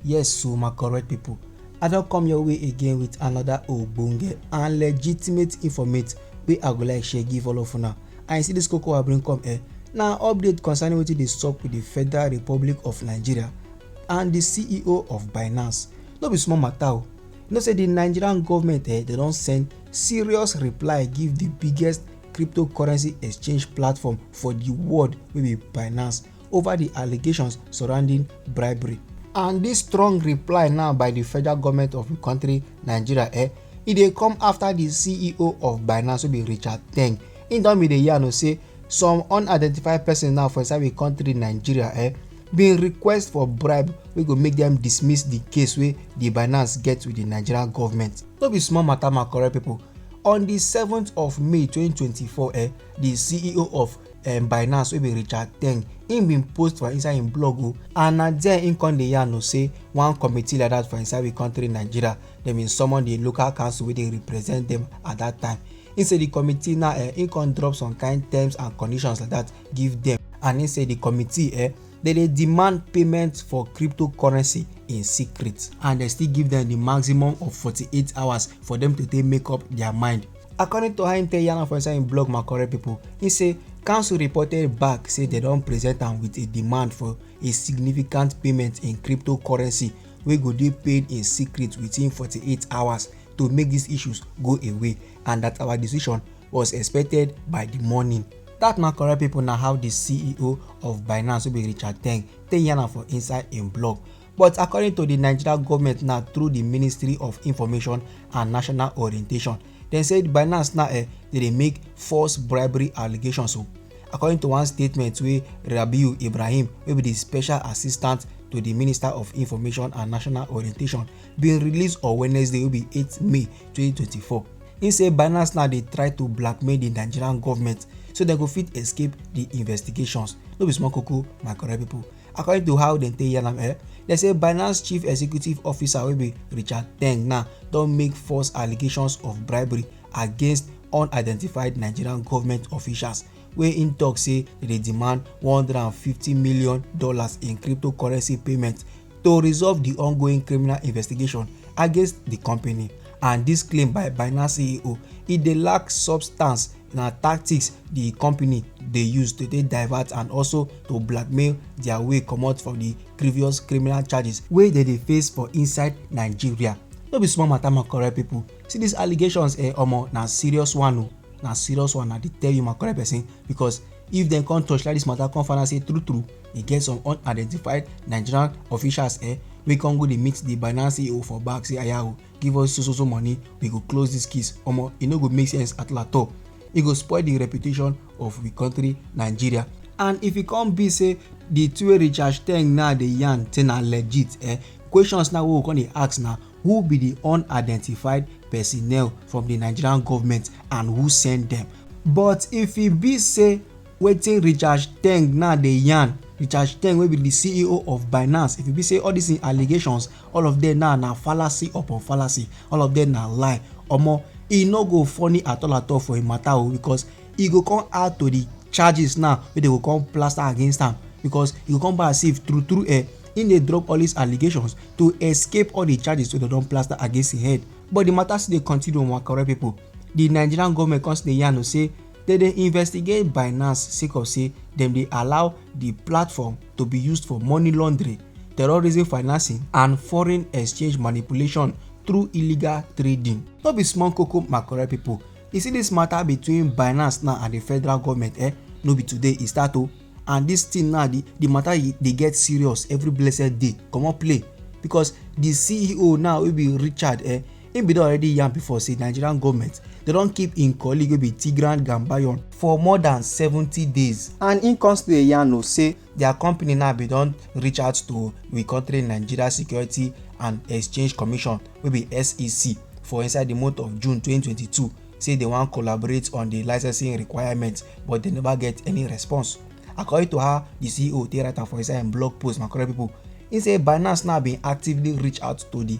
Yes so my correct people, I don come your way again with another ogbonge and legitimate informate wey I go like share give all of una. And you see this koko I bring come here, na update concerning wetin dey sup with the Federal Republic of Nigeria and the CEO of Binance. No be small matter o. You know say the Nigerian government eh, they don send serious reply give the biggest cryptocurrency exchange platform for the world wey be Binance. over di allegations surrounding bribery. And dis strong reply now by di federal goment of di kontri Nigeria eh, e dey come afta di CEO of Binance wey be Richard Teng, im don bin dey yarn say some unidentified persons now for inside di kontri Nigeria eh, bin request for bribe wey go make dem dismiss di case wey di Binance get wit di Nigerian goment. No be small mata my correct pipo, on di seventh of May twenty twenty four eh, di ceo of um, binance wey be richard teng im bin post for inside im blog o and na there im come dey yarn o say one committee like that for inside we country nigeria dem bin summon di local council wey dey represent dem at that time im say di committee now eh, im come drop some kind terms and conditions like that give dem and im say di committee eh, dem dey demand payment for cryptocurrency in secret and dem still give dem di maximum of 48 hours for dem to take make up dia mind according to how im take yarn am for inside im blog makorel pipo im say council reported back say dem don present am wit a demand for a significant payment in cryptocurrency wey go dey paid in secret within 48 hours to make dis issues go away and dat our decision was expected by di morning dat na correct pipo na how di ceo of binance wey be richard teng take yarn am for inside im blog But according to di Nigeria goment na through di Ministry of Information and National Orientation, dem say Binance now eh, dey dey make false bribery allegations o. According to one statement wey Rabiu Ibrahim wey be di special assistant to di Minister of Information and National Orientation bin release on Wednesday wey be eight May twenty twenty four, im say Binance now dey try to blackmail di Nigerian goment so dem go fit escape di investigations. No be small koko my correct pipo. according to how dem take yarn am eh dem say binance chief executive officer wey be richard teng now don make false allegations of bribery against unidentified nigerian government officials wey im tok say dem dey demand one hundred and fifty million dollars in cryptocurrency payment to resolve di ongoing criminal investigation against di company and dis claim by binance ceo e dey lack substance na tactics di company dey use to take divert and also to blackmail dia way comot from di previous criminal charges wey dem dey face for inside nigeria no be small matter my correct people see these allegations eh omo na serious one o na serious one i dey tell you my correct person because if dem come torchlight this matter come find out say true true e get some unidentified nigerian officials eh wey come go dey meet the binance ceo for back say aya o give us so so so money we go close this case omo e no go make sense at all e go spoil the reputation of we country nigeria and if e come be say the two wey richard ten now dey yarn say na legit eh questions now wey we come dey ask na who be the unidentified personnel from the nigerian government and who send them but if e be say wetin richard teng now dey yarn richard teng wey be di ceo of binance if e be say all dis allegations all of dem now na fallacy upon fallacy all of dem na lie omo e no go funny at all at all for im matter o because e go come add to di charges now wey dem go come plaster against am because e go come be as if true true eh im dey drop all dis allegations to escape all di charges wey dem don plaster against im head but di matter still dey continue my correct pipo di nigerian goment come still dey yarn o say Dem dey investigate Binance sake of say dem dey allow di platform to be used for money laundering, terrorism financing and foreign exchange manipulation through illegal trading. No be small koko my correct people, you see this matter between Binance now and the federal government eh, no be today e start o and this thing now the the matter e dey get serious every blessed day comot play because the CEO now wey be Richard eh, im bin don already yarn before say nigerian goment dey don keep im colleague wey be tigran gambayon for more dan seventy days and im come still dey yarn o say dia company now bin don reach out to we kontri nigeria security and exchange commission wey be sec for inside di month of june twenty twenty two say dem wan collaborate on di licensing requirements but dem neva get any response according to how di ceo take write am for inside im blog post my correct pipo im say binance now bin actively reach out to di.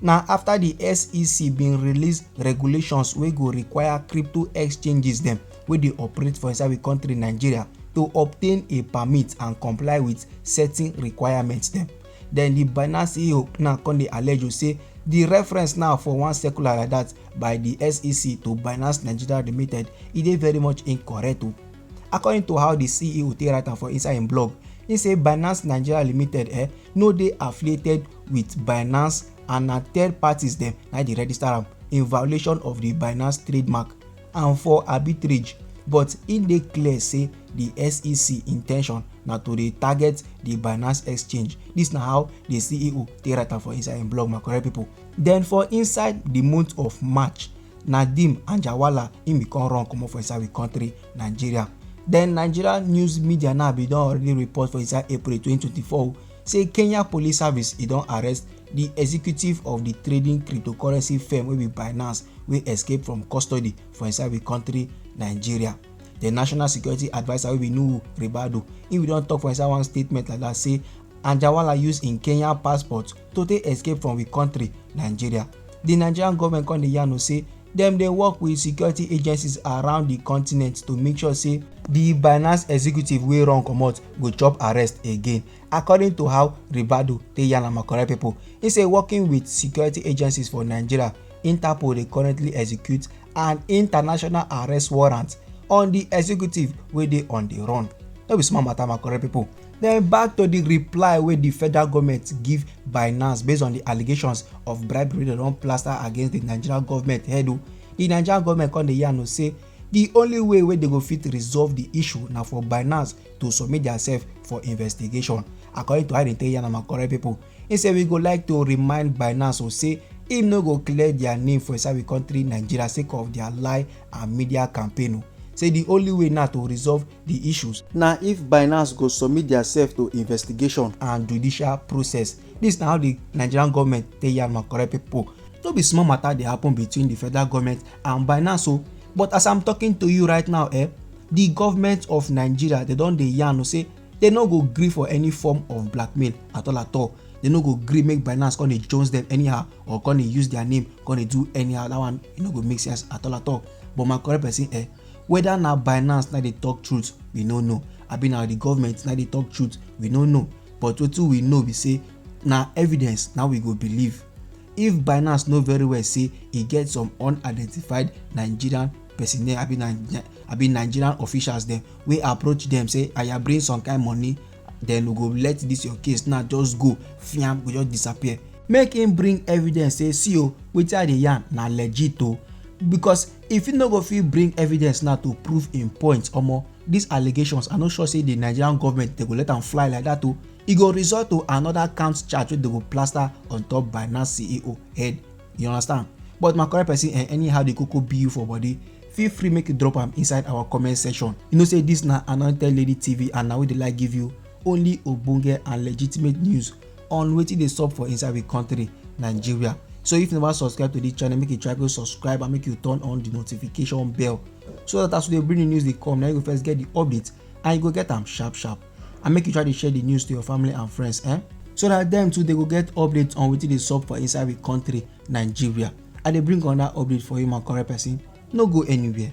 Na after the SEC bin release regulations wey go require crypto exchanges dem wey dey operate for inside we country Nigeria to obtain a permit and comply with certain requirements dem. Then the Binance CEO now come dey allege o say the reference now for one circular like that by the SEC to Binance Nigeria Limited e dey very much incorrect o. According to how the CEO take write am for inside im blog, he say Binance Nigeria Limited eh, no dey affiliated with binance and na third parties dem na dey register am in violation of the binance trademark and for arbitrage but e dey clear say the sec intention na to dey target the binance exchange This na how the ceo take write am for inside im blog my correct people. then for inside the month of march nadeem anjarwalla im bin come run comot for inside we country nigeria then nigeria news media now bin don already report for inside april 2024 say kenya police service e don arrest di executive of di trading cryptocurrency firm wey be binance wey escape from custody for inside di country nigeria di national security adviser wey be nuhu ribadu im don tok for inside one statement like dat say anjawala use im kenya passport to take escape from di country nigeria di nigerian goment come dey yarn say Dem dey work wit security agencies around di continent to make sure say di Binance executive wey run comot go chop arrest again, according to how Ribadu take yarn am correct pipo. He say working wit security agencies for Nigeria, Interpol dey currently execute an international arrest warrant on di executive wey dey on di run. No be small mata, my correct pipo. Then back to the reply where the federal government give Binance based on the allegations of bribery they don't plaster against the Nigerian government head o. Oh. The Nigerian government come the yarn say the only way where they go fit resolve the issue now for Binance to submit themselves for investigation. According to how they tell yarn and correct people, he say we go like to remind Binance or oh, say im no go clear their name for inside we country Nigeria sake of their lie and media campaign o. Oh. Say the only way now to resolve di issues. Na if Binance go submit diasef to investigation and judicial process. Dis na how di Nigerian goment take yarn my correct pipo. No be small mata dey happen between di federal goment and Binance o but as I'm talking to you right now eh, di goment of Nigeria dey don dey yarn o say dey no go gree for any form of blackmail at all at all. Dey no go gree make Binance come dey jones dem anyhow or come dey use dia name come dey do anyhow. Dat one e no go make sense at all at all but my correct pesin eh. whether na binance na dey talk truth we no know abi na the government na dey talk truth we no know but wetin we know be say na evidence na we go believe if binance know very well say e get some unidentified nigerian personnel abi nigerian officials dem wey approach dem say aya bring some kind money then we go let this your case now just go fiam go just disappear make him bring evidence say see o wetin i dey yarn na legit o because if he no go fit bring evidence now to prove him point omo these allegations i no sure say the nigerian government dey go let am fly like that o e go result to another count charge wey dey go plaster on top binance ceo head you understand but my correct person eh, anyhow the koko be you for body feel free make you drop am inside our comment section you know say this na anointed lady tv and na we dey like give you only ogbonge and legitimate news on wetin dey sup for inside we country nigeria so if you never subscribe to this channel make you try go subscribe and make you turn on the notification bell so that as we dey bring the news dey come na you go first get the update and you go get am sharp sharp and make you try dey share the news to your family and friends eh so that dem too dey go get update on wetin dey sup for inside we country nigeria I dey bring another update for you my correct person, no go anywhere.